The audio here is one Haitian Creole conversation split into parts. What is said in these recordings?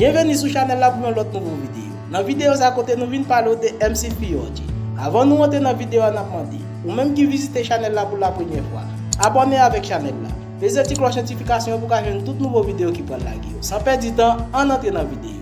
Byenveni sou chanèl la pou yon lòt nouvo videyo. Nan videyo sa kote nou vin pale w de Emcee Fiorgi. Avan nou antre nan videyo a nap mande, ou menm ki vizite chanèl la pou la premyè fwa, abòne avèk chanèl la, peze ti klòch notifikasyon an pou ka jwenn tout nouvo videyo ki pral lage yo. San pèdi tan, ann antre nan videyo a.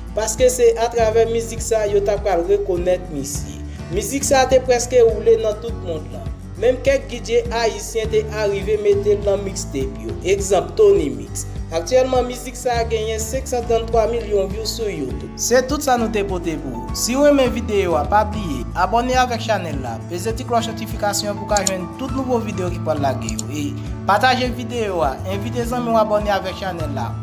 Paske se atravè mizik sa yo ta pral rekonèt misye. Mizik sa te prèske woule nan tout mond lan. Menm kèk DJ ayisyen te arive mete l nan mixtape yo, egzanp Tony Mix. Aktyèlman mizik sa genyen 533 milyon view sou YouTube. Se tout sa nou te pote pou ou. Si w renmen videyo a pa bliye abòne avèk chanèl la, peze ti klòch notifikasyon an pou w ka jwenn tout nouvo videyo ki pral lage yo e pataje videyo a, envite zanmi w abòne avèk chanèl la.